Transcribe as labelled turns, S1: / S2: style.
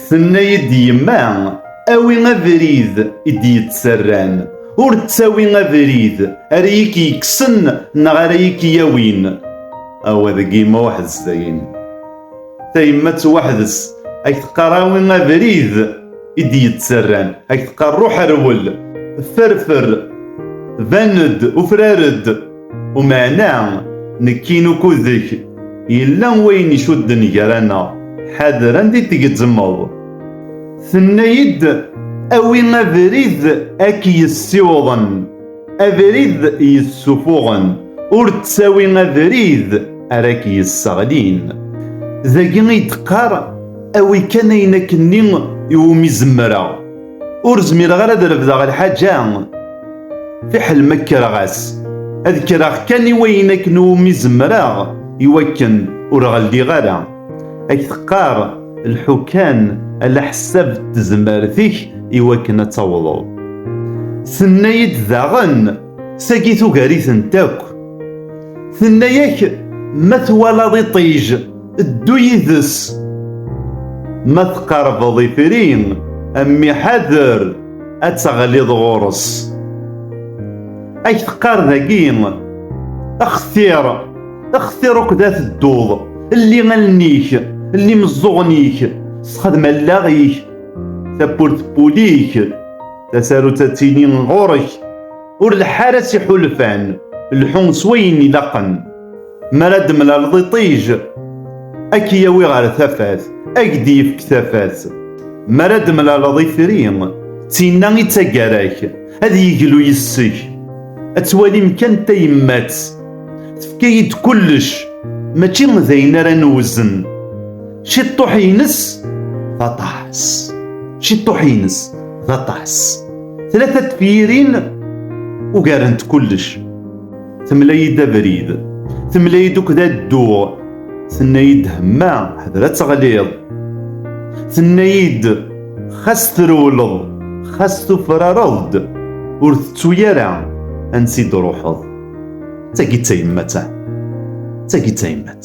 S1: Tenna-yi-d yemma, awi abrid i d-yettarran, ur ttawi abrid ara iyi-k-yekksen neɣ ara iyi-k-yawin. Awa deg yemma weḥd-s dayen. Tayemmat weḥd-s ad k-teqqar awi abrid i d-yettarran, ad k-teqqar ruḥ rwel, ferfer, ban-d, ufrar-d. Umeɛna, nekkin ukudek, yella wayen icudden gar-aneɣ, ḥader anda i tgezzmeḍ. Tenna-yi-d, Awi abrid a k-yessiwḍen, abrid yessufuɣen, ur ttawi abrid ara k-yesseɣlin. Dagi i d-teqqar, Awi kan ayen akkenni iwumi zemreɣ. Ur zmireɣ ara ad refdeɣ lḥaǧa, fiḥel ma kkreɣ-as. Ad kkreɣ kan i wayen akken umi zemreɣ i wakken ur ɣeldiɣ ara. Ad k-teqqar lḥu kan ala ḥessab d tezmert-ik i wakken ad tawḍeḍ. Tenna-yi-d daɣen. Sagi tugar-itent akk. Tenna-yak ma twalaḍ iṭij, ddu yid-s. Ma tqerbeḍ ifri, a mmi ḥader, ad teɣliḍ ɣur-s. Ad k-teqqar dagi, xtir, xtir ukud ad tedduḍ, lli allen-ik, lli imeẓẓuɣen-ik, sexdem allaɣ-ik, tawwurt n wul-ik. tasarut ad tili ɣur-k ur leḥḥ ara s iḥulfan lḥu s wayen ilaqen mi ara d-temlaleḍ iṭij ad k-yawi ɣer tafat ad k-d-yefk tafat mi ara d-temlaleḍ ifri d tinna i d taggara-k ad yeglu yes-k ad twalim kan tayemmat tefka-yi-d kullec mačči d ayen ara newzen ciṭṭuḥ-ines d aṭas ciṭṭuḥ-ines d aṭas tlata tefyirin ugarent kullec temla-yi-d abrid temla-yi-d ukda dduɣ tenna-yi-d hemma ḥder ad teɣliḍ tenna-yi-d xas trewleḍ xas tufrareḍ-d ur tettu ara ansi d-ruḥeḍ d tagi d tayemmat d tagi d tayemmat